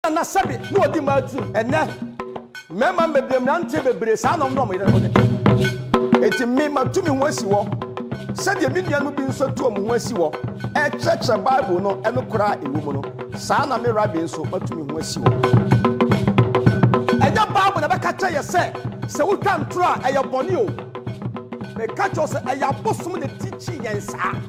Nana sɛbi na ɔdi mmaa tirim ɛnɛ mmarima mmebree mmeranteɛ bebree saa na wɔn ne wɔn yere no eti me matu me ho asi hɔ sɛdeɛ me nuanom bi nso atu wɔn ho asi hɔ ɛkyerɛkyerɛ bible no ɛno koraa a ɛwɔ mu no saa na me rabi nso matu me ho asi hɔ ɛnyɛ bible na ɛbɛka kyerɛ yɛ sɛ sɛ wotwa ntorɔ a ɛyɛ bɔne o meka kyerɛ sɛ ɛyɛ abosom na ɛtikyi yɛn saa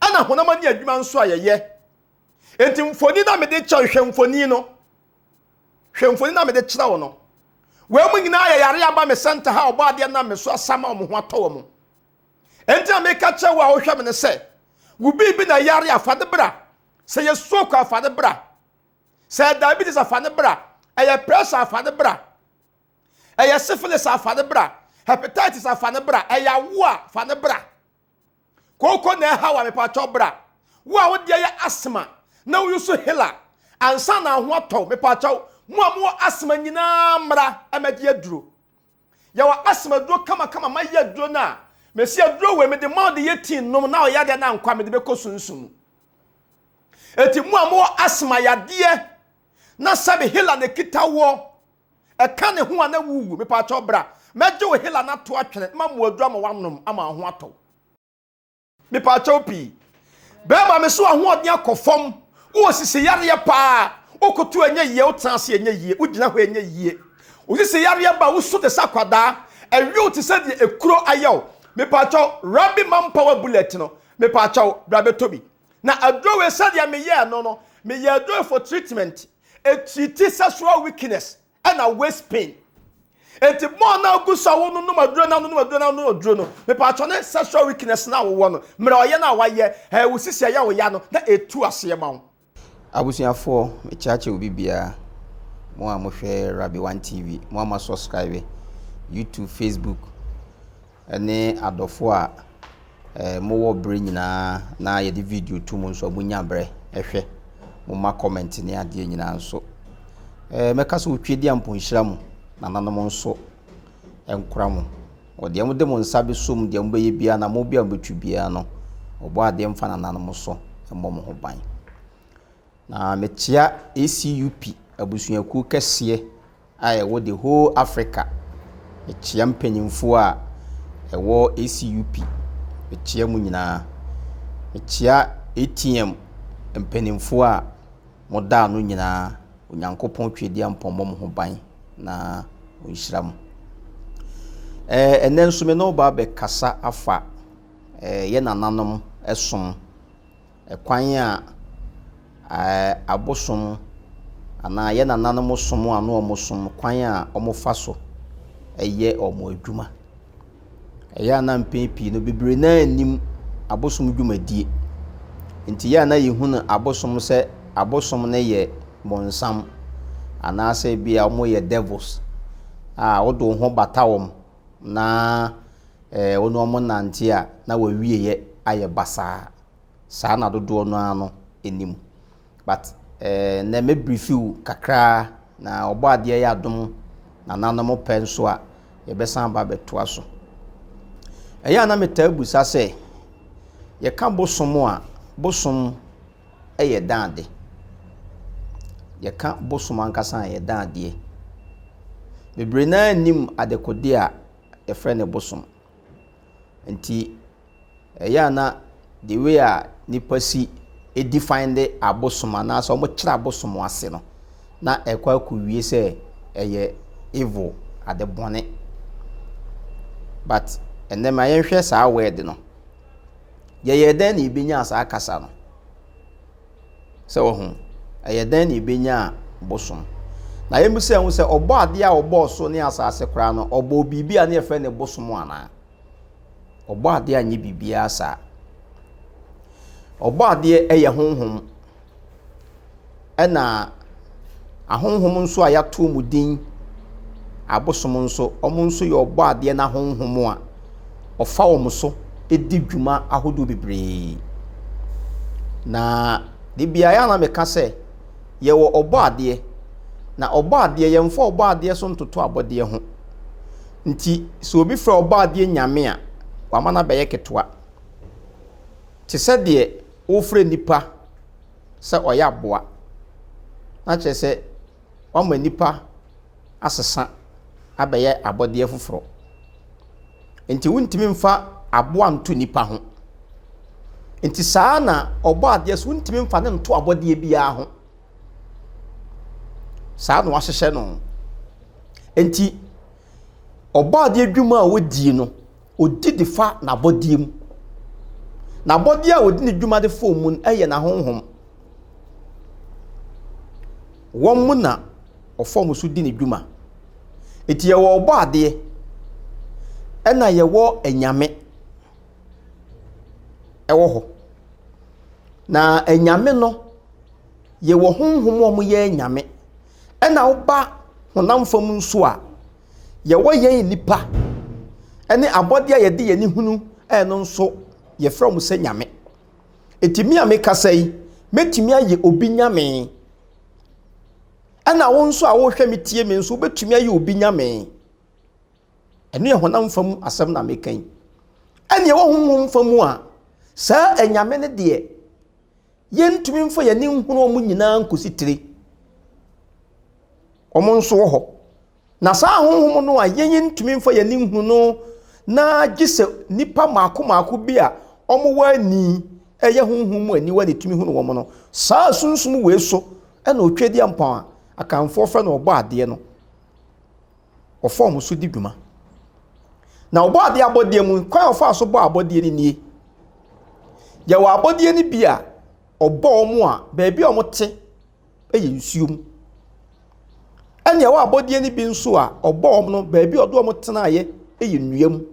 ɛna honam ani adwuma nso a yɛyɛ enti mfoni na mede kyerɛ hwɛ mfoni no hwɛ mfoni na mede kyerɛ wo no wɔn mu nyinaa yɛ yare aba me sɛnta ha ɔbɔ adeɛ nam me so asama wɔn ho atɔ wɔn enti na meka kyerɛ wo a wohwɛ me no sɛ wo biribi na yare afa ne bra sɛ yɛ stroke afa ne bra sɛ diabetes afa ne bra ɛyɛ pressure afa ne bra ɛyɛ syphilis afa ne bra hepatitis afa ne bra ɛyɛ awo a fa ne bra Kooko na ɛha wa mepakyɛw bra. Wo a wodeɛ yɛ asthma na wo yusu hela ansa na ho atɔw mepakyɛw mo a mowɔ asthma nyinaa mmra ɛmɛgye aduro. Yɛwɔ asthma aduro kama kama mayɛ aduro no a mesi aduro wei mede ma ɔde yɛ tii nom na ɔyɛ adeɛ na ankɔ a mede bɛkɔ sunsun mu. Eti mo a mowɔ asthma yadeɛ na sɛbe hela na ɛkita woɔ. Ɛka ne ho a na wuwu. Mepaakyɛw bra. Mɛgye wo hela no ato atwene, ma mmoaduru ama woanom, ama wo ho atɔ wo. Mepaakyɛw pii. Bɛɛma me so ahoɔden akɔ fam. Wowɔ sisi yareɛ paa. Wokoto ɛnyɛ yie, wotena ase ɛnyɛ yie, wogyina hɔ ɛnyɛ yie. Wo sisi yareɛ ba, wosu te sɛ akwadaa. Ɛwe wo te sɛ deɛ ekuro ayɛ wo. Mepaakyɛw, Rabi Mampawa Bullet no, mepaakyɛw, bra bɛtɔ bi. Na adoe sɛdeɛ meyɛɛ no no, meyɛ adoe for treatment, etiri ti sexual weakness, ɛna waist pain. Enti mo a na agu so a wononom aduro na wononom aduro na wononom aduro no, mepatwɔ ne sexual weakness na wowɔ no, mmerɛ ɔyɛ no a wayɛ, ɛɛ wo sisi ɛyɛ wo ya no, na etu aseɛ ma wo. Abusuafoɔ, mekyaakyɛ obi biara, mo a mohwɛ Rabi One TV, mo a moasubscribe, YouTube, Facebook, ne adɔfo a mowɔ bere nyinaa na yɛde video to mu nso a monya bere hwɛ. Momma comment ne adeɛ nyinaa nso. Mɛka sɛ wotwa di a mponhyira mu, nananom nso nkora mo. Wɔdeɛ mode mo nsa bɛsom deɛ mobɛyɛ biara na mo bi a mobɛtwi biara no, ɔbɔ adeɛ mfa nananom so mmɔ mo ho ban. Na mekyea ACUP abusuakuo kɛseɛ a ɛwɔ the whole Africa, mekyea mpanyimfoɔ a ɛwɔ ACUP, mekyea mo nyinaa. Mekyea ATM mpanyimfoɔ a mo da ano nyinaa, Onyankopɔn Tweadiampɔn mmɔ mo ho ban na ɔnhyira mo. Ɛɛ, ɛnnɛ nso me ne wo ba bɛkasa afa ɛɛ, yɛ nananom som. kwan a abosom anaa yɛn nananom som a na wɔsom kwan a wɔfa so yɛ wɔn adwuma. Ɛyɛ a na mpɛn pii no bebree no ara nnim abosom dwumadie. Nti ɛyɛ a na yɛhunu abosom sɛ abosom no yɛ bonsam anaasɛ ebi a wɔyɛ devils a wode wo ho bata wɔn na wo ne wɔn nante a na w'awieɛ ayɛ basaa. saa na dodoɔ no ara no nim but ɛɛ nɛ mɛ brifi wo kakraa na ɔbɔ adeɛ yɛ adom na nana mo pɛ nso a yɛbɛsan aba abɛtoa so ɛyɛ a na metaa busa sɛ yɛka bosom a bosom ɛyɛ dan ade yɛka bosom ankasa a yɛ dan adeɛ bebree naa nim adekodeɛ a yɛfrɛ ne bosom nti ɛyɛ a na the way a nnipa si define de abosom anaasɛ wɔkyerɛ abosom ase no na ɛkɔ akɔwie sɛ ɛyɛ evil ade bɔne but ɛnɛ ma yɛnhwɛ saa word no yɛyɛ dɛn na yɛbɛnya saa kasa no sɛ wɔ ho ɛyɛ dɛn na yɛbɛnya bosom na yɛmu sɛ ho sɛ ɔbɔ adeɛ a ɔbɔɔ so ne asase koraa no ɔbɔɔ biribi a ne yɛfrɛ ne bosom anaa Ɔbɔadeɛ annyɛ biribiara saa. Ɔbɔadeɛ yɛ honhom, ɛna ahonhom nso a yɛato wɔn din, abosom nso, wɔn nso yɛ Ɔbɔadeɛ no ahonhom a ɔfa wɔn so di dwuma ahodoɔ bebree. Na da biara yɛ a na meka sɛ, yɛwɔ Ɔbɔadeɛ, na Ɔbɔadeɛ, yɛmfa Ɔbɔadeɛ so ntoto abɔdeɛ ho. Nti sɛ obi frɛ Ɔbɔadeɛ Nyame a, wama no abɛyɛ ketewa. Te sɛ deɛ wofrɛ nipa sɛ ɔyɛ aboa, na kyerɛ sɛ woama nipa asesa abɛyɛ abɔdeɛ foforɔ. Nti wontumi mfa aboa nto nipa ho. Nti saa ara na Ɔbɔadeɛ nso wontumi mfa no nto abɔdeɛ biara ho. Saa na wɔahyehyɛ no. Enti, ɔbɔadeɛ adwuma a ɔdi no, ɔdi de fa n'abɔdeɛ mu. N'abɔdeɛ a ɔdi ne dwuma de fa wɔn mu no yɛ n'ahonhom. Wɔn mu na ɔfa wɔn so di ne dwuma. Enti yɛwɔ ɔbɔadeɛ, ɛna yɛwɔ anyame wɔ hɔ. Na anyame no. yɛwɔ honhom a wɔyɛ anyame, ɛna woba honam fam nso a, yɛwɔ yɛn nnipa ne abɔdeɛ a yɛde yɛn ani hunu no nso, yɛfrɛ wɔn sɛ nyame. Enti me a mekasa yi, mɛtumi ayɛ obi nyame. Ɛna wo nso a wohwɛ me tie me nso, wobɛtumi ayɛ obi nyame. Ɛno yɛ honam fam asɛm na meka yi. Ɛnna ɛwɔ honhom fam a, saa anyame no deɛ, yɛntumi mfa yɛn ani nhunu wɔn nyinaa nkɔsi tire. Wɔn nso wɔ hɔ. Na saa honhom no a yɛn ntumi mfa yɛn ani nhunu no na gye sɛ nnipa mmaako mmaako bi a wɔwɔ ani ɛyɛ honhom mu aniwa na ɛtumi hunu wɔn no. Saa sunsum wei so ɛna Otwedeɛ Mpɔn a Akanfoɔ frɛ no Ɔbɔadeɛ no. wɔfa wɔn so di dwuma. Na wɔbɔ adeɛ abɔdeɛ mu, kwan a wɔfa so bɔ abɔdeɛ no nie. Yɛwɔ abɔdeɛ no bi a ɔbɔ wɔn a baabi a wɔte yɛ nsuo mu. Ɛna ɛwɔ abɔdeɛ no bi nso a ɔbɔ wɔn no baabi a ɔde wɔn tenaeɛ yɛ nnua mu.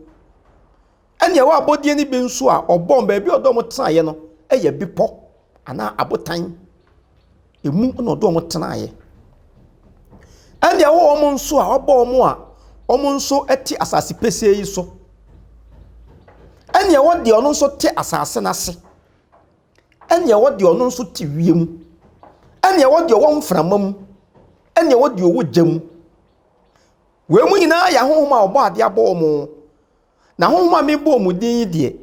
Ɛnna ɛwɔ abɔdeɛ no bi nso a ɔbɔɔ no, baabi a ɔde wɔn tenaeɛ no yɛ bepɔ anaa abotan. Emu na ɔde wɔn tenaeɛ. Ɛnna ɛwɔ wɔn nso a ɔbɔ wɔn a wɔn nso te asase pɛsɛɛ yi so. Ɛnna ɛwɔ deɛ ɔno nso te asase no ase. Ɛnna ɛwɔ deɛ ɔno nso te wiem. Ɛnna ɛwɔ deɛ ɔwɔ mframa mu. Ɛnna ɛwɔ deɛ ɔwɔ gya mu. Wei mu nyinaa yɛ ahonhom a wɔbɔ adeɛ abɔ wɔn. Na honhom a mebɔ wɔn din yi deɛ,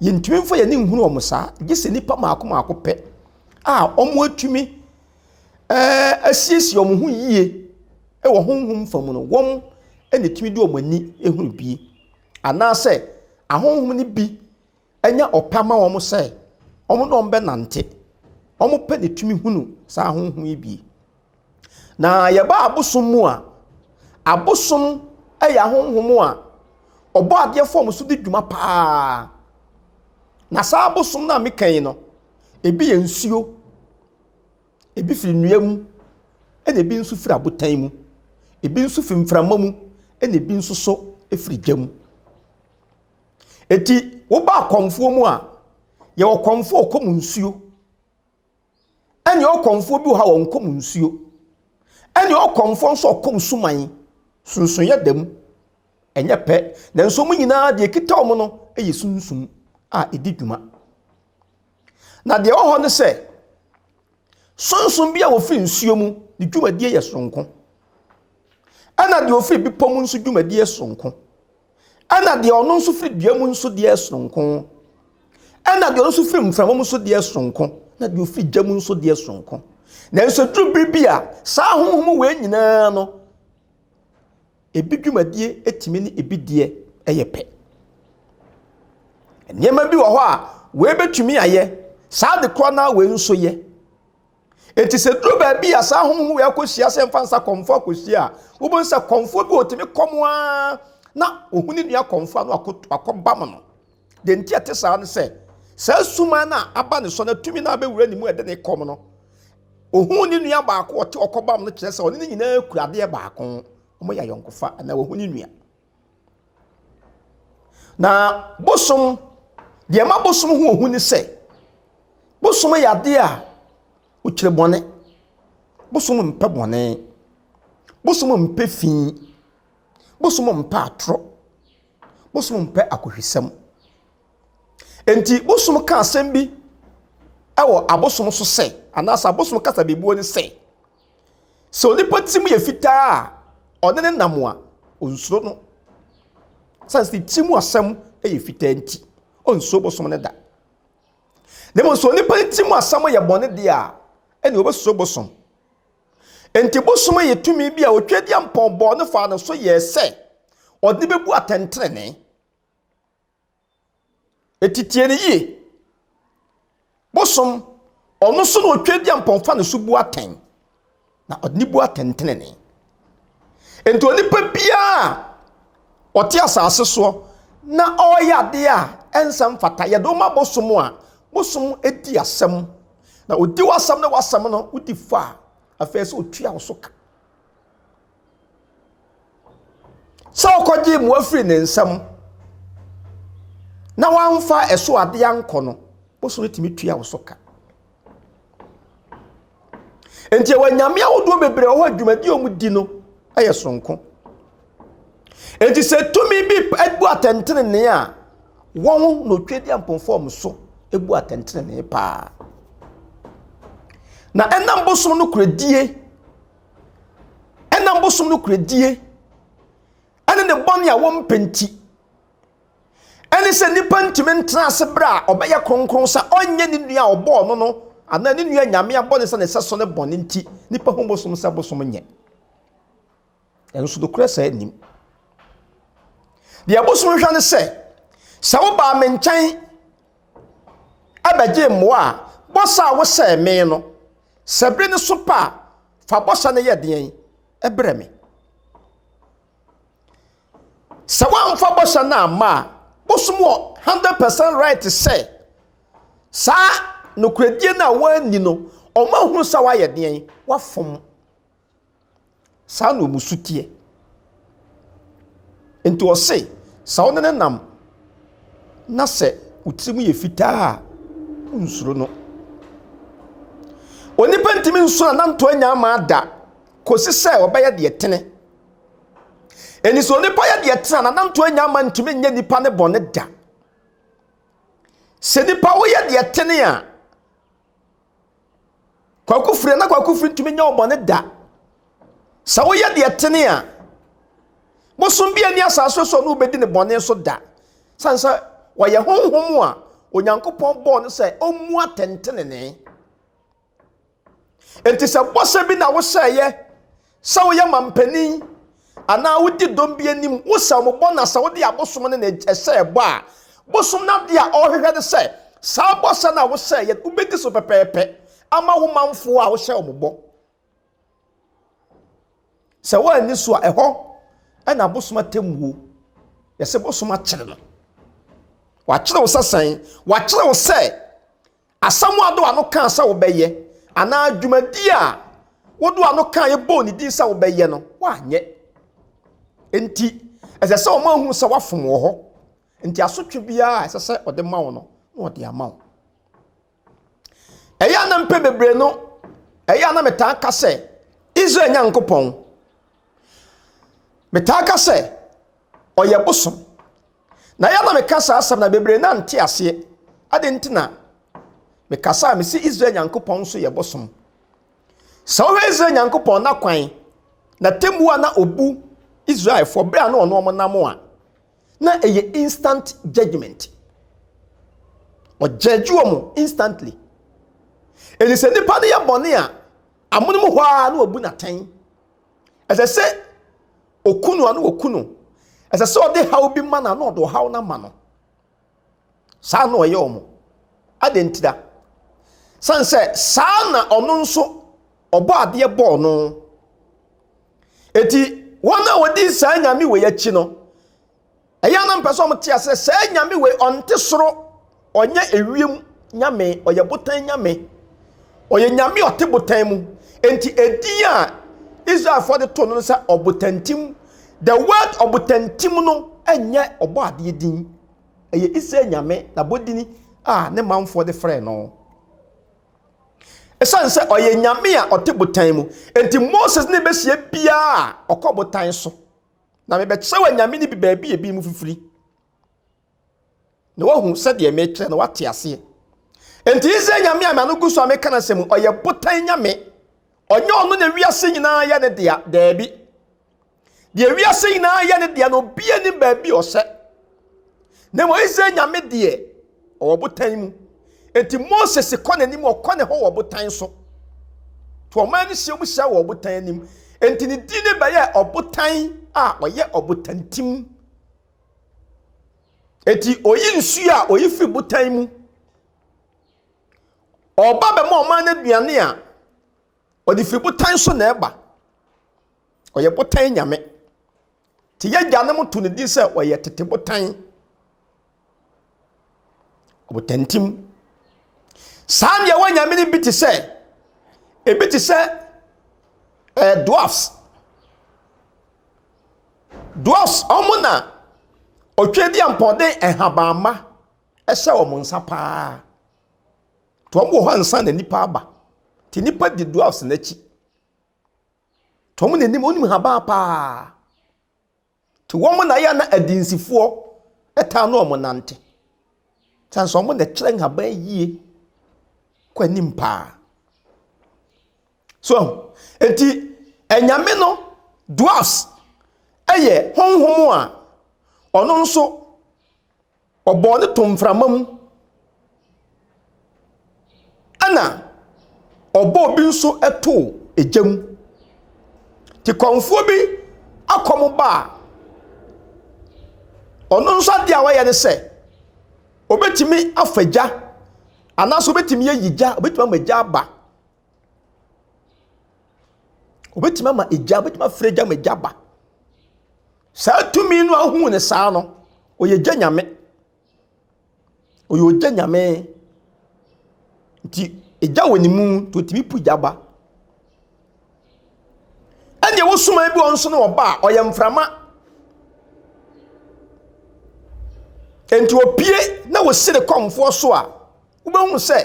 yɛntumi mfa yɛn ani nhunu wɔn saa, gye sɛ nnipa mmaako mmaako pɛ a wɔatumi eh, asiesie wɔn ho yie wɔ honhom fa mu no, wɔn na ɛtumi de wɔn ani hunu bie. Anaasɛ ahonhom no bi Ɛnyɛ ɔpɛ ama wɔn sɛ wɔn ne wɔn bɛnante. Wɔpɛ ne tumi hunu saa honhom yi bi. Na yɛba abosom mu a, abosom yɛ ahonhom a ɔbɔ adeɛ fam so di dwuma paa. Na saa abosom no a meka yi no, ebi yɛ nsuo, ebi firi nnua mu, ɛna ebi nso firi abotan mu, ebi nso firi mframa mu, ɛna ebi nso so firi gya mu. Enti woba akɔmfoɔ mu a, yɛwɔ kɔmfoɔ a ɔkɔm nsuo. Ɛne ɔkɔmfoɔ bi wɔ ha a ɔnkɔm nsuo. Ɛne ɔkɔmfoɔ nso a ɔkɔm suman. Sunsonyɛ da mu. Ɛnyɛ pɛ. Nanso wɔn nyinaa deɛ ɛkita wɔn no yɛ sunsum a ɛdi dwuma. Na deɛ ɛwɔ hɔ ne sɛ, sonsom bi a wɔfiri nsuo mu ne dwumadie yɛ soronko. Ɛna deɛ ɔfiri bepɔ mu nso dwumadie soronko. Ɛna deɛ ɔno nso firi dua mu nso deɛ soronko. Ɛna deɛ ɔno nso firi mframa mu nso deɛ soronko. Na deɛ ɔfiri gya mu nso deɛ soronko. Nanso duru bere bi a saa honhom wei nyinaa no Ebi dwumadie tumi ne ebi deɛ yɛ pɛ. Nneɛma bi wɔ hɔ a, wei bɛtumi ayɛ, saa de korɔ no ara wei nso yɛ. Enti sɛ duru baabi a saa honhom wei akɔhyia sɛ mfa nsa kɔmfoɔ akɔhyia a, wobɛhu sɛ kɔmfoɔ bi ɔtumi kɔm ara na ɔhu ne nua kɔmfoɔ a na wakɔbam no. Deɛ nti ɛte saa ne sɛ, saa suman no a aba ne so no atumi no abɛwura ne mu ɛde ne kɔm no. Ohuu ne nua baako a ɔte ɔkɔbam no kyerɛ sɛ ɔne ne nyinaa kura adeɛ baako. Wɔyɛ ayɔnkofa anaa wɔhu ne nua. Na bosom, deɛ ɛma bosom ho ohu ne sɛ, bosom yɛ adeɛ a ɔkyerɛ bɔne. Bosom mpɛ bɔne. Bosom mpɛ fi. Bosom mpɛ atorɔ. Bosom mpɛ akohwisɛm. Enti Bosom ka asɛm bi wɔ abosom so sɛ, anaasɛ abosom kasa bebuo ne sɛ, sɛ onipa ti mu yɛ fitaa a ɔne ne nam a, onsuro no. Sane sɛ ne ti mu asɛm yɛ fitaa nti, onsuro bosom no da. Na mmom sɛ onipa ne ti mu asɛm yɛ bɔne deɛ a, ɛnna obesuro bosom. Enti bosom yɛ tumi bi a Otwedeampɔn bɔɔ no faa no so yɛɛ sɛ ɔde bebu atɛntrenee. Eti tie no yie. Bosom, ɔno so na Otwedeampɔn fa no so bu atɛn, na ɔde ne bu atɛntrenee. Enti onipa biara Ɔte asase soɔ na ɔreyɛ adeɛ a ɛnsɛ mfata. Yɛde wo ma bosom a, bosom di asɛm. Na ɔdi w'asɛm ne w'asɛm no, wodi fɔ a, afei sɛ ɔtua wo so ka. Sɛ wokɔgyee mmoa firi ne nsam na wamfa ɛso adeɛ ankɔ no, bosom tumi tua wo so ka. nti ɛwɔ nyame ahodoɔ bebree wɔ hɔ a dwumadi a wɔdi no yɛ soronko nti sɛ tumi bi bu atɛntenenee a wɔn na otwa di ampɔnfɔm so bu atɛntenenee paa na ɛnam bosom no kuradie ɛnam bosom no kuradie ɛne ne bɔne a wɔmpɛ nti Ɛne sɛ nipa ntumi ntena ase bere a ɔbɛyɛ kronkron sɛ ɔnyɛ ne nua a ɔbɔɔ no no anaa ne nua nyame abɔne sɛ ne sɛso ne bɔne nti nipa hu bosom sɛ bosom nyɛ. Ɛnso nokorɛ saa nnim. Deɛ bosom hwɛ ne sɛ sɛ wobaa me nkyɛn ɛbɛgye mmoa a bɔsa a wosɛɛ me no sɛ bere ne so pa a fa bɔsa no yɛ deɛn ɛbrɛ me. Sɛ woamfa bɔhyɛ no amma a, wosom wɔ hundred percent right sɛ saa nokorɛdie no a woanni no, ɔma hunu sɛ woayɛ deɛn? Woafom. Saa na wɔn su teɛ. Nti ɔse, sɛ wo ne no nam na sɛ wo tirim yɛ fitaa a, wonsuro no. Onipa ntumi nso ananto anyaa maa da kɔsi sɛ ɔbɛyɛ deɛ tene. Ɛni sɛ onipa yɛ deɛ tena na nanto anya ama ntumi nyɛ nipa ne bɔne da. Sɛ nipa woyɛ deɛ tene a, kwaku firi na kwaku firi ntumi nyɛ ɔbɔne da. Sɛ woyɛ deɛ tene a, bosom bi ani asase so no wobɛdi ne bɔne so da. Sane sɛ wɔyɛ honhom a Onyankopɔn bɔɔ no sɛ ɔmmu atɛntenenee. Enti sɛ bɔhyɛ bi na wohyɛeɛ sɛ woyɛ mampanin anaa wodi dɔm bi anim, wosɛ wɔn bɔ na sɛ wode abosom no na ɛhyɛ ɛbɔ a, bosom no adeɛ a ɔrehwehwɛ ne sɛ saa bɔhyɛ no a wohyɛeɛ wobɛdi so pɛpɛɛpɛ ama wo manfoɔ a wohyɛ wɔn bɔ. Sɛ woanni so a ɛhɔ ɛna bosom atemmuo. Yɛsɛ bosom akyere no. Wakyere wo sɛ sɛn? Wakyere wo sɛ Asɛm a Doa no kãa sɛ wobɛyɛ anaa dwumadie a wo Doa no kãa yɛ bɔɔ ne din sɛ wobɛyɛ no, woanyɛ. Enti, ɛsɛ sɛ ɔma hunu sɛ woafom wɔ hɔ. Enti asotwe biara a ɛsɛ sɛ ɔde ma wo no, na ɔde ama wo. Ɛyɛ a na mpɛ bebree no, ɛyɛ a na metaa ka sɛ, Israel Nyankopɔn, metaa ka sɛ, ɔyɛ bosom. Na yɛ na me ka saa asɛm na bebree na nte aseɛ. Adɛn nti na me kasa a me se Israel Nyankopɔn nso yɛ bosom? Sɛ wohwɛ Israel Nyankopɔn na kwan na temmuo a na obu Israelfoɔ berɛ a na ɔno wɔn nam a, na ɛyɛ instant judgment. Ɔgyɛgye wɔn instantly. Ɛni sɛ nipa no yɛ bɔne a, amonom hɔ ara na obu natɛn. Ɛsɛ sɛ oku no a na wɔku no. Ɛsɛ sɛ ɔde haw bi ma no a na ɔde ɔhaw no ama no. Saa na ɔyɛ wɔn. Adɛn ntira? Sane sɛ saa na ɔno nso ɔbɔ adeɛ bɔɔ no. Enti wɔn a wɔdi saa nyame wei akyi no, Ɛyɛ a na mepɛ sɛ wɔte aseɛ sɛ saa nyame wei ɔnte soro, ɔnyɛ ewiem nyame, ɔyɛ botan nyame. Ɔyɛ nyame a ɔte botan mu. Enti edin a Israelfoɔ de to no sɛ ɔbotantim. The word ɔbotantim no nyɛ ɔbɔadeɛ din. Ɛyɛ Israel nyame n'abɔdini a ne manfoɔ de frɛ no. Ɛsiane sɛ ɔyɛ nyame a ɔte botan mu, enti Moses ne bɛhyia biara a ɔkɔ botan so. Na mebɛkyerɛw anyame no bi baabi a ebinom fifiri, na woahu sɛdeɛ mekyerɛ na woate aseɛ. Enti Israel nyame a m'ano gu so a meka n'asɛm mu, ɔyɛ botan nyame. Ɔnyɛ ɔno na wiase nyinaa yɛ ne dea, daabi. Deɛ wiase nyinaa yɛ ne dea no, obiara nim baabi a ɔhyɛ. Na mmom Israel nyame deɛ, ɔwɔ botan mu. Enti Moses kɔ n'anim, ɔkɔ ne hɔ wɔ botan so. To ɔman no hyia mu hyia wɔ ɔbotan anim. Enti ne din no bɛyɛ ɔbotan a ɔyɛ ɔbotantim. Enti oyi nsuo a oyi firi botan mu. Ɔba bɛma ɔman no aduane a ɔde firi botan so na ɛba. Ɔyɛ botan nyame. Nti y'agyanom to no din sɛ ɔyɛ tete botan. Ɔbotantim. Saa nea ɛwɔ nyame no bi te sɛ, ebi te sɛ ɛɛ eh, dwarfs. Dwarfs, wɔn na ɔtwɛdi ampɔden nhabamma ɛhyɛ wɔn nsa paa. To wɔn wɔ hɔ ansa na nipa aba. Ti nipa di dwarfs n'akyi. Nti wɔn na ɛnim, wɔnim habaa paa. Nti wɔn na yɛ na adinsifoɔ ɛtaa no wɔn nante. Sane sɛ wɔn na ɛkyerɛ nhaban yie kɔ anim paa. So, nti anyame no, dwarfs, ɛyɛ honhom a ɔno nso Ɔbɔɔ no too mframa mu, ɛnna ɔbɔɔ bi nso too gya mu. Tikɔnfoɔ bi akɔm ba a, ɔno nso adeɛ a ɔyɛ ne sɛ, ɔbɛtumi afa gya, anaasɛ ɔbɛtumi ayi gya, ɔbɛtumi ama gya aba. Obetumi ama egya, obetumi afrɛ egya ma egya aba. Saa tumi no a wohu no saa no, ɔyɛ gya nyame. Ɔyɛ ogya nyame. Nti egya wɔ ne mu nti otumi pu gya ba. Ɛnna ɛwɔ suman bi wɔ hɔ nso no ɔba a ɔyɛ mframa. Nti opue na osi ne kɔmfoɔ so a, wobɛhu sɛ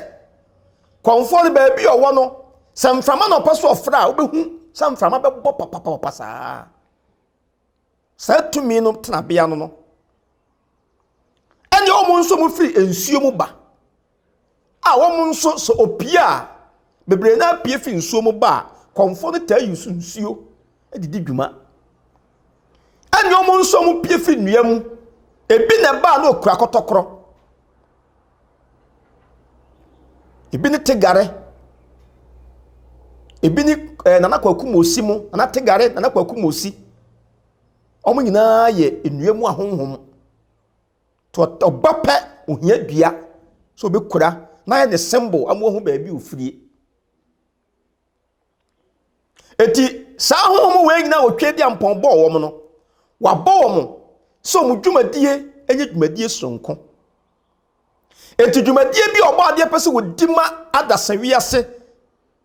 Kɔmfoɔ no baabi a ɔwɔ no, sɛ mframa na ɔpɛ so ɔfrɛ a, wobɛhu sɛ mframa bɛbɔ papapapa saa. Saa tumi no tenabea no no. Ɛnneɛ wɔn nso mu firi nsuo mu ba a wɔn nso sɛ opie a bebree no apue firi nsuo mu ba a kɔmfoɔ no taa yi so nsuo de di dwuma. Ɛnneɛ wɔn nso mu pue firi nnua mu. Ebi na ɛbaa na ɔkura kɔtɔkorɔ. Ebi ne Tegare, ebi ne ɛɛ Nana Kwaku Mosi mo, Nana Tegare, Nana Kwaku Mosi. Wɔn nyinaa yɛ nnua mu ahonhom. Nti ɔba pɛ, ohia dua sɛ ɔbɛkura na ayɛ ne symbol ama wɔahu baabi a ɔfirie. Enti saa ahonhom wei nyinaa wɔ Tweaduampɔn bɔɔ wɔn no, wɔabɔ wɔn sɛ wɔn dwumadie nyɛ dwumadie soronko. Enti dwumadie bi a ɔbɔ adeɛ pɛ sɛ wɔdi ma adasa wiase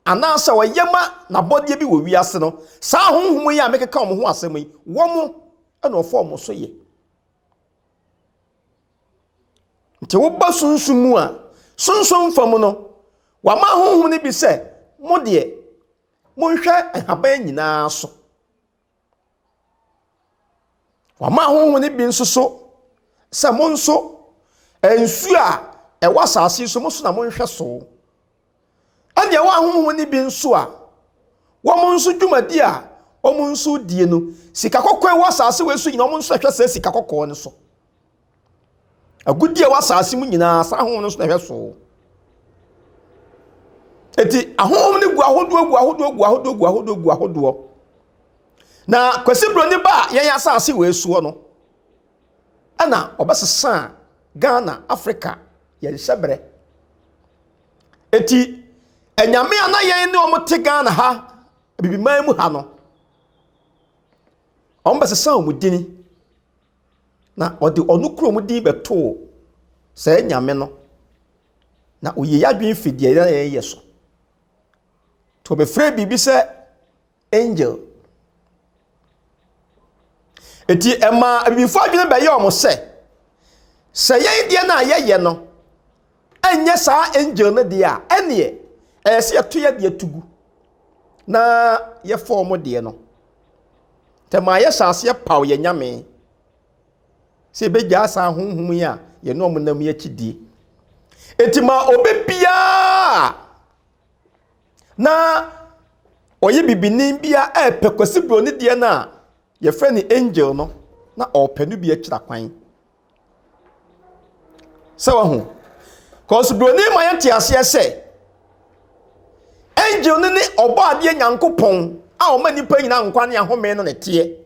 anaasɛ ɔyɛ ma n'abɔdeɛ bi wɔ wiase no, saa ahonhom yi a mekeka wɔn ho asɛm yi, wɔn na wɔfa wɔn so yɛ. Nti woba sunsum mu a, sunsum fa mu no, wɔama ahonhom no bi sɛ, mo deɛ, monhwɛ nhaban nyinaa so. Wɔama ahonhom no bi nso so sɛ, mo nso, nsuo a ɛwɔ asase so, mo nso na monhwɛ so. Ɛnna ɛwɔ ahonhom mu no bi nso a, wɔn nso dwumadi a wɔn nso die no, sika kɔkɔɔ ɛwɔ asase wei so nyinaa, wɔn nso ɛhwɛ sɛ sika kɔkɔɔ no so. Agudi a ɛwɔ asase mu nyinaa, saa ahonhom no nso na ɛhwɛ so. Eti ahonhom no gu ahodoɔ gu ahodoɔ gu ahodoɔ gu ahodoɔ gu ahodoɔ. Na Kwasi Broni ba a yɛn asase wei soɔ no, ɛna ɔbɛsesa Ghana, Africa, yɛn hyɛbrɛ. Eti anyame a na yɛn ne wɔn te Ghana ha, Abibiman mu ha no, wɔn bɛsesa wɔn dini na wɔde ɔno kuro mu din bɛtoo saa nyame no. Na ɔyɛ adwene fi deɛ na yɛyɛ so. Nti wɔbɛfrɛ biribi sɛ. Angel. Enti ɛmaa abibifo adwene bɛyɛ wɔn sɛ, sɛ yɛn deɛ no a yɛyɛ no ɛnyɛ saa angel no deɛ a, ɛneɛ ɛyɛ sɛ yɛto yɛ deɛ to gu na yɛfa wɔn deɛ no. Tɛmaa yɛhyɛ aseɛ paw yɛn nyame sɛ ɛbɛgyaa saa honhom yi a yɛne wɔn nam yi akyidie. Enti ma obi biara na ɔyɛ bibini bi a ɛrepɛ Kwasi Broni deɛ no a wɔfrɛ no Angel no, na ɔrepɛ no bi akyira kwan. Sɛ wahu. Kwasi Broni ma yɛte aseɛ sɛ, Angel no ne ɔbɔ adeɛ Nyankopɔn a ɔma nnipa nyinaa nkwa ne ahome no na ɛteɛ.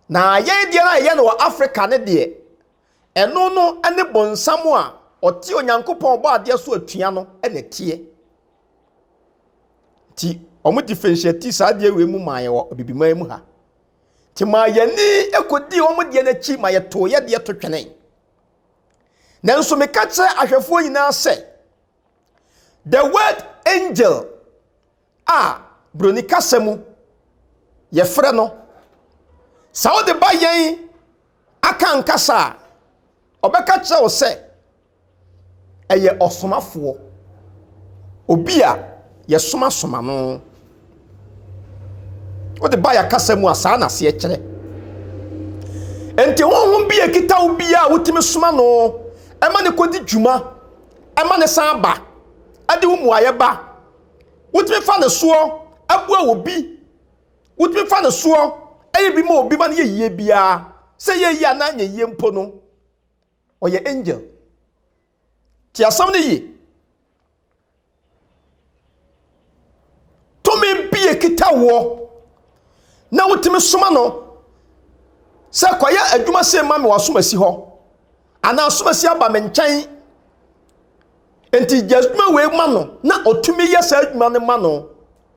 Na yɛn deɛ no a yɛyɛ no wɔ Africa no deɛ, Ɛno no ne bonsam a ɔte Onyankopɔn a ɔbɔ adeɛ so atua no na ɛteɛ. Nti wɔn differentiate saa adeɛ wei mu maa yɛ wɔ abibiman mu ha. Nti maa yɛni kɔdii wɔn deɛ no akyi ma yɛtoo yɛ deɛ to twene. Nanso meka kyerɛ ahwɛfoɔ nyinaa sɛ the word angel a Buroni kasa mu yɛfrɛ no sɛ wode ba yɛn Akan kasa a, ɔbɛka kyerɛ wo sɛ ɛyɛ ɔsomafoɔ, obi a yɛsomasoma no. Wode ba yɛ kasa mu a saa na aseɛ kyerɛ. Enti honhom bi a ɛkita wo bi a wotumi soma no ɛma ne kɔdi dwuma ɛma ne san ba ɛde wo mmuaeɛ ba. Wotumi fa no soɔ boa obi. Wotumi fa no soɔ yɛ bi ma obi ma no yɛ yie biara. Sɛ ɛyɛ yie anaa ɛnyɛ yie mpo no, ɔyɛ angel. Te asɛm no yie. Tumi bi ekita woɔ na wotumi soma no sɛ kɔyɛ adwuma sei ma me w'asom asi hɔ. Anaa asomasi aba me nkyɛn. Nti gye adwuma wei ma no na ɔtumi yɛ saa adwuma no ma no.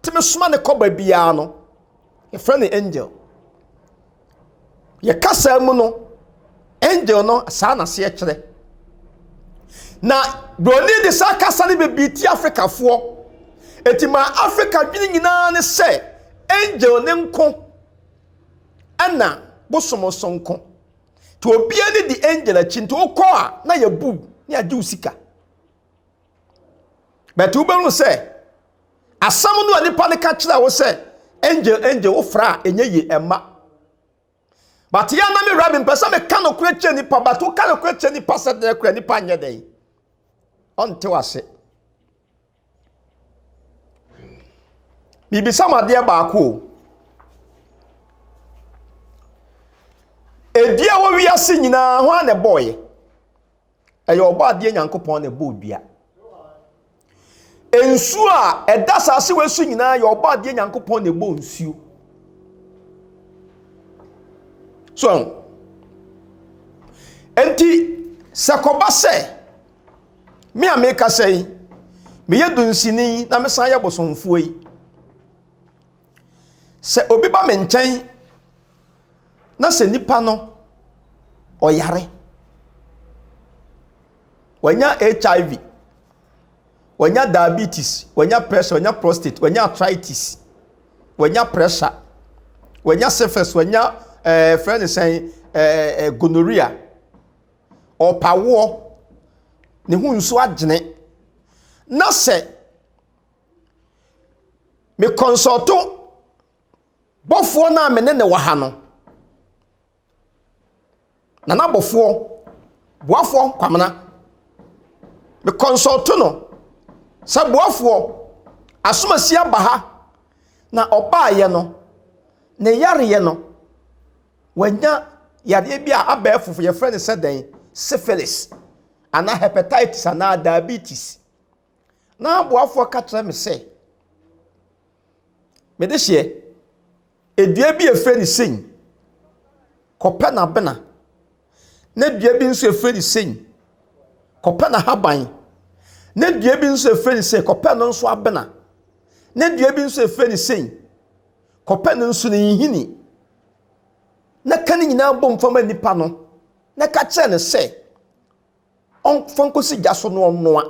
Tumi soma ne kɔba biara no. Yɛfrɛ no angel. Yɛ kasa mu no, angel no saa na seɛ kyerɛ. Na broni de saa kasa no bebree ti Afrikafoɔ. Eti ma Afrika dwene nyinaa ne sɛ angel ne nko ɛna bosom nso nko. Nti obia ne di angel akyi nti wokɔ a na yɛ bu ne agye wo sika but wobɛhu sɛ asɛm no a nipa no ka kyerɛ wo sɛ angel angel wo fra a ɛnyɛ yie ɛma but yɛ na me wura me mpɛ sɛ meka nokorɛ kyerɛ nipa but woka nokorɛ kyerɛ nipa sɛ dɛn korɛ nipa nyɛ dɛn ɔnte wase Mibisa mo adeɛ baako o. Dua a ɛwɔ wiase nyinaa, hwan na ɛbɔeɛ? Ɛyɛ Ɔbɔadeɛ Nyankopɔn na ɛbɔɔ dua. Nsuo a ɛda asase wei so nyinaa yɛ Ɔbɔadeɛ Nyankopɔn na ɛbɔɔ nsuo. So, enti sɛ kɔba sɛ Me a mekasa yi, meyɛ dunsini yi na mesan yɛ bosomfoɔ yi. Sɛ obi ba me nkyɛn na sɛ nipa no ɔyare, wanya HIV, wanya diabetes, wanya pressure, wanya prostate, wanya arthritis, wanya pressure, wanya syphilis, wanya ɛɛ eh, fɛn ne sɛn ɛɛ eh, eh, gonorrhea. ɔrepawoɔ, ne ho nsuo agyene na sɛ me kɔnsɔɔto bɔfoɔ no a me ne ne wɔ ha no, nana bɔfoɔ, boafoɔ kwamena, me kɔnsɔɔto no sɛ boafoɔ asomasi aba ha na ɔbaeɛ no, ne yareɛ no. Wanya yadeɛ bi a abɛɛfo yɛfrɛ no sɛ dɛn? Syphilis anaa hepatitis anaa diabetes. Na aboafoɔ ka kyerɛ me sɛ, mede hyeɛ, edua bi a yɛfrɛ no sei, kɔpɛ n'abena, na dua bi nso yɛfrɛ no sei, kɔpɛ n'ahaban, na dua bi nso yɛfrɛ no sei, kɔpɛ no nso abena, na dua bi nso yɛfrɛ no sei, kɔpɛ no nso ne nhini. na ka ne nyinaa bom fa ma nipa no na ka kyerɛ no sɛ ɔmfa nkɔsi gya so na ɔnnoa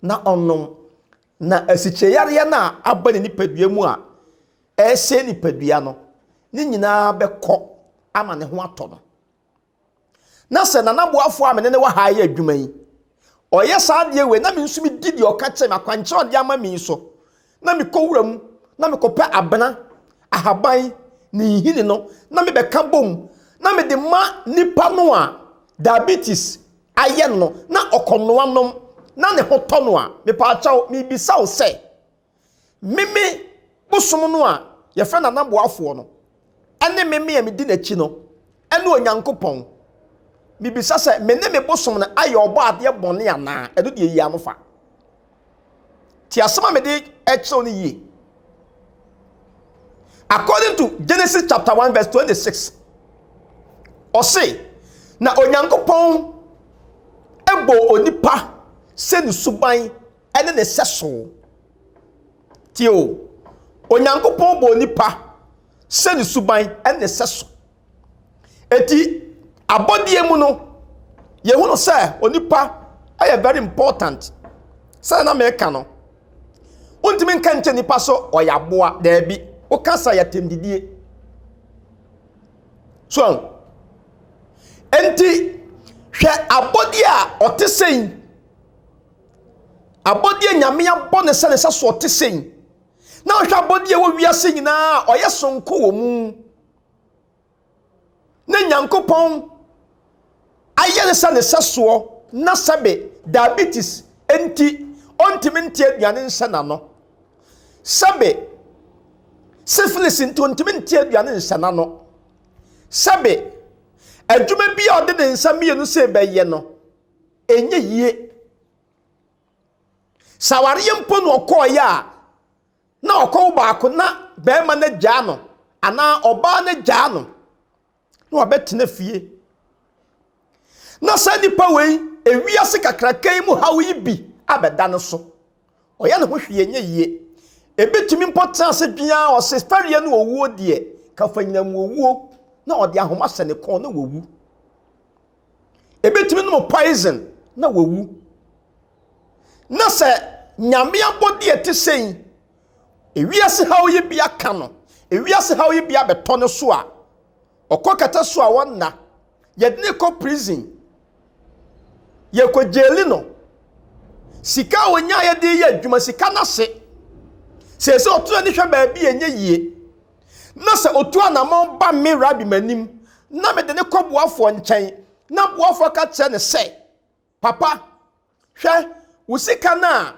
na ɔnom. Na asikyirɛyareɛ no a aba ne nipadua mu a ɛresɛe nipadua no ne nyinaa bɛkɔ ama ne ho atɔ no. na sɛ Nana Boafo a me ne no wɔ ha yɛ adwuma yi, ɔyɛ saa adeɛ wei na me nso medi deɛ ɔka kyerɛ me akwankyerɛ ɔde ama me yi so, na mekɔ wura mu na mekɔpɛ abena, ahaban, ne nhini no na mebɛka bom na mede ma nipa no a diabetes ayɛ no na ɔkɔnoa nom na ne ho tɔ no a, mepaakyɛw, mebisa wo sɛ. Meme bosom no a yɛfrɛ no Anaboafoɔ no, ɛne meme a medi n'akyi no, ɛne Onyankopɔn. Mebisa sɛ, me ne me bosom no ayɛ ɔbɔ adeɛ bɔne anaa? Ɛno deɛ yi ano fa. Ti asɛm a mede kyerɛw no yie. According to Genesis chapter 1 verse 26, ɔse, na Onyankopɔn bɔɔ onipa sɛ ne suban ne ne sɛso. Tie o, Onyankopɔn bɔɔ nipa sɛ ne suban ne ne sɛso. Eti abɔdeɛ mu no, yɛhunu sɛ onipa yɛ very important. Sɛ na meka no, wontumi nka nkyɛ nipa so ɔyɛ aboa, daabi. Woka sa yɛ tɛmdidie. So, enti hwɛ abɔdeɛ a ɔte sɛn Abɔdeɛ a Nyame abɔ no sɛ ne sɛ soɔ te sei, na wohwɛ abɔdeɛ ɛwɔ wiase nyinaa a, ɔyɛ sonko wɔ mu. Ne Nyankopɔn ayɛ no sɛ ne sɛ soɔ, na sɛbe diabetes nti, ɔntumi nte aduane nhyɛ n'ano. Sɛbe syphilis nti, ɔntumi nte aduane nhyɛ n'ano. Sɛbe adwuma bi a ɔde ne nsa mmienu sɛ bɛyɛ no, ɛnyɛ yie. Sɛ awareɛ mpo na ɔkɔeɛ a, na ɔkɔwo baako na barima no agyaa no anaa ɔbaa no agyaa no na wabɛtena fie. Na saa nnipa wei, ewiase kakraka yi mu haw yi bi abɛda no so. Ɔyɛ ne ho hwee ɛnyɛ yie. Ɛbɛtumi mpo tena ase dwen ara ɔse fɛreɛ ne owuo deɛ, kafanyinam owuo na ɔde ahoma hyɛ ne kɔn na wawu. Ebetumi nom poison na wawu. Na sɛ Nyame abɔde a ɛte sɛn, ewiase haw yi bi aka no, ewiase haw yi bi abɛtɔ no so a, ɔkɔ kɛtɛ so a wɔnna. Yɛde no kɔ prison. Yɛkɔ gyeeli no. Sika a onyaeɛ de yɛ adwuma, sika no ase. Sɛ sɛ ɔtena ne hwɛ baabi a ɛnyɛ yie. na sɛ otu anammɔn ba me rabi m'anim na mede no kɔ boafoɔ nkyɛn, na boafoɔ ka kyerɛ no sɛ, Papa, hwɛ, wo sika no a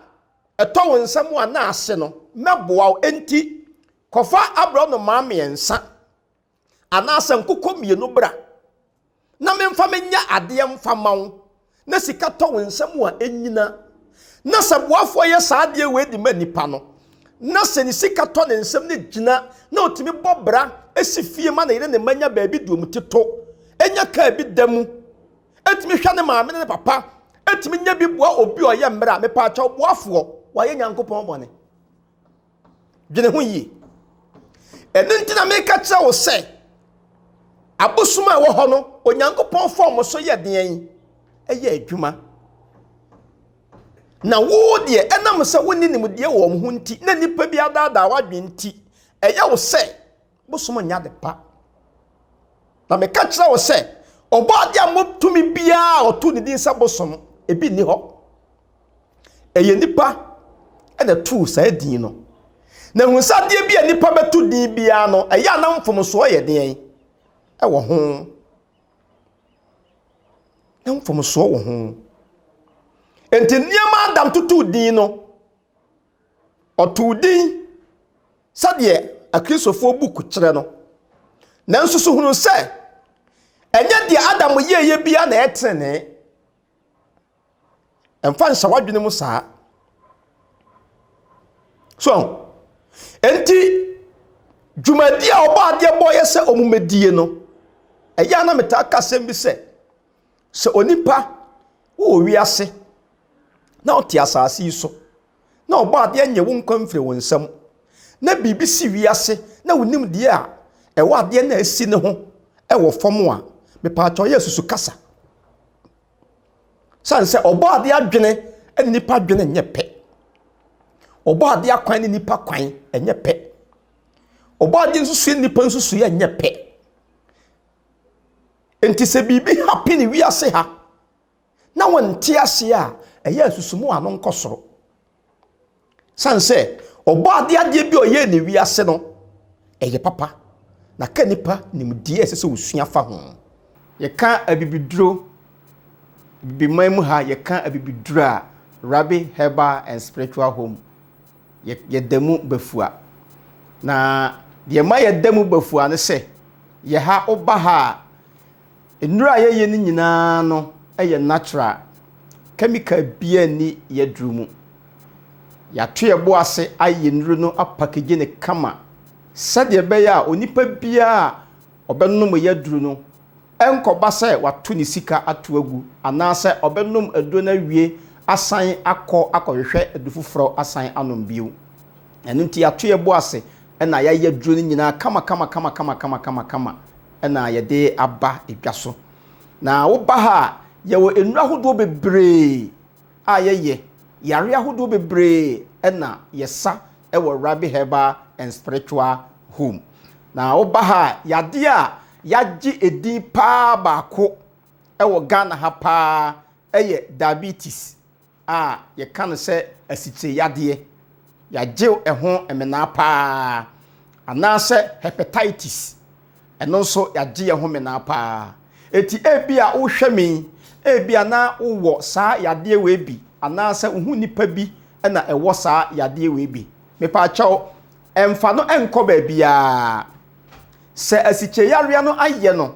ɛtɔ wo nsam a na ase no, mɛboa wo, enti kɔfa aborɔnoma mmiɛnsa anaasɛ nkokɔ mmienu bra. na memfa menyɛ adeɛ mfa ma wo na sika tɔ wo nsam a ɛnnyina. Na sɛ boafoɔ yɛ saa adeɛ wei de ma nipa no, na sɛ ne sika tɔ ne nsam na ɛgyina na ɔtumi bɔ bra si fie ma ne yere ne mma nya baabi deɛ ɔmu te to, nya kaa bi da mu, ɛtumi hwɛ ne maame ne ne papa, ɛtumi nya bi boa obi ɔyɛ mmerɛ a, mepaakyɛw boafoɔ wayɛ Nyankopɔn bɔne. Dwene ho yie. Ɛno nti na meka kyerɛ wo sɛ, abosom a ɛwɔ hɔ no, Onyankopɔn fa wɔn so yɛ deɛn? Ɛyɛ adwuma. Na wo deɛ, ɛnam sɛ wonni nimdeɛ wɔ wɔn ho nti, na nnipa bi adaadaa w'adwene nti, ɛyɛ wo sɛ Bosom nyɛ ade pa. Na meka kyerɛ wo sɛ, Ɔbɔadeɛ a mmɔ tumi biara a wɔtoo ne din sɛ Bosom, ebi nni hɔ. Ɛyɛ nnipa na ɛtoo saa din no. Na hu sɛ adeɛ bi a nnipa bɛto din biara no, ɛyɛ a na mfomsoɔ yɛ deɛn wɔ ho? Na mfomsoɔ wɔ ho. Enti nneɛma a Adam totoo din no, Ɔtoo din sɛdeɛ Akristofoɔ book kyerɛ no, nanso so hunu sɛ ɛnyɛ deɛ Adam yɛeɛ biara na ɛyɛ tenenee? Ɛmfa nhyɛ w'adwene mu saa. So enti dwumadi a ɔbɔ adeɛ bɔeɛ sɛ wɔmmɛdie no, ɛyɛ a na metaa ka asɛm bi sɛ, Sɛ onipa wowɔ wiase na ɔte asase yi so na ɔbɔ adeɛ nye wo nkwa mfiri wo nsam na biribi si wiase na wonim deɛ a ɛwɔ adeɛ no a ɛsi no ho wɔ fam a, mepaakyɛw yɛ susu kasa. Sane sɛ ɔbɔ adeɛ adwene ne nipa adwene nyɛ pɛ. Ɔbɔ adeɛ akwan ne nipa kwan nyɛ pɛ. Ɔbɔ adeɛ nsusuiɛ ne nipa nsusuiɛ nyɛ pɛ. Enti sɛ biribi hapene wiase ha na wɔnte aseɛ a, ɛyɛ asusumu a ano nkɔ soro. Sane sɛ ɔbɔ adeɛ adeɛ bi a ɔyɛɛ ne wiase no, ɛyɛ papa, na ka nipa nim deɛ ɛsɛ sɛ ɔsua fa ho. Yɛka abibiduro, abibiman mu ha yɛka abibiduro a, Rabbi Herbal and Spiritual Home yɛda mu ba fua. Na deɛ ma yɛda mu ba fua ne sɛ, yɛ ha, woba ha a, nnuro a yɛyɛ no nyinaa no yɛ natural. Chemical biara nni yɛaduro mu. Yɛato yɛn bo ase ayɛ nnuro no apakagye no kama sɛdeɛ ɛbɛyɛ a onipa biara a ɔbɛnom yɛaduro no, Ɛrenkɔba sɛ wato ne sika ato agu anaasɛ ɔbɛnom aduro no awie asan akɔ akɔhwehwɛ aduro foforɔ asan anom bio. Ɛno nti yɛato yɛn bo ase na yɛayɛ aduro no nyinaa kamakamakamakama na yɛde aba dwa so. Na woba ha a, yɛwɔ nnuro ahodoɔ bebree a yɛyɛ, yareɛ ahodoɔ bebree na yɛsa wɔ Rabi Herbal and Spiritual Home. Na woba ha a, yadeɛ a yɛagye edin paa baako wɔ Ghana ha paa yɛ diabetes a yɛka no sɛ asikyire yadeɛ. Yɛagye ɛho mmenaa paa. Anaasɛ hepatitis, ɛno nso yɛagye yɛn ho mmenaa paa. Eti ebi a wohwɛ me yi, ebi a na wowɔ saa yadeɛ wei bi anaasɛ wo ho nipa bi na ɛwɔ saa yadeɛ wei bi. Mepaakyɛw, ɛmfa no nkɔ baabiara. Sɛ asikyireyarea no ayɛ no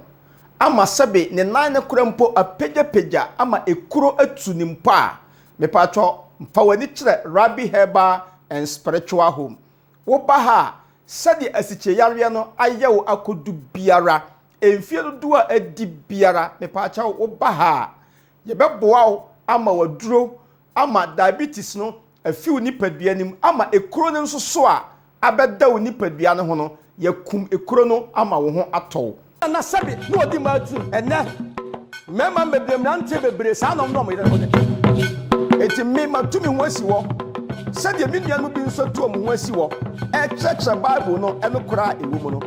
ama sɛbe ne nan no kora mpo apagyapagya ama ekuro atu no mpo a, mepaatwɔ fa w'ani kyerɛ Rabbi Herbal and Spiritual Home. Woba ha a, sɛdeɛ asikyireyarea no ayɛ wo akodu biara, mfie dodoɔ a adi biara, mepaakyɛw woba ha a, yɛbɛboa wo ama w'aduro ama diabetes no afi wo nipadua no mu ama ekuro no nso so a abɛda wo nipadua no ho no, yɛakum ekuro no ama wo ho atɔ wo. Nana sɛbi na ɔdi mmaa tirim ɛnɛ mmarima mmebree mmeranteɛ bebree saa na wɔn ne wɔn yere ho de enti me matu me ho asi hɔ sɛdeɛ me nuanom bi nso atu wɔn ho asi hɔ ɛrekyerɛkyerɛ Bible no nokorɛ a ɛwɔ mu no.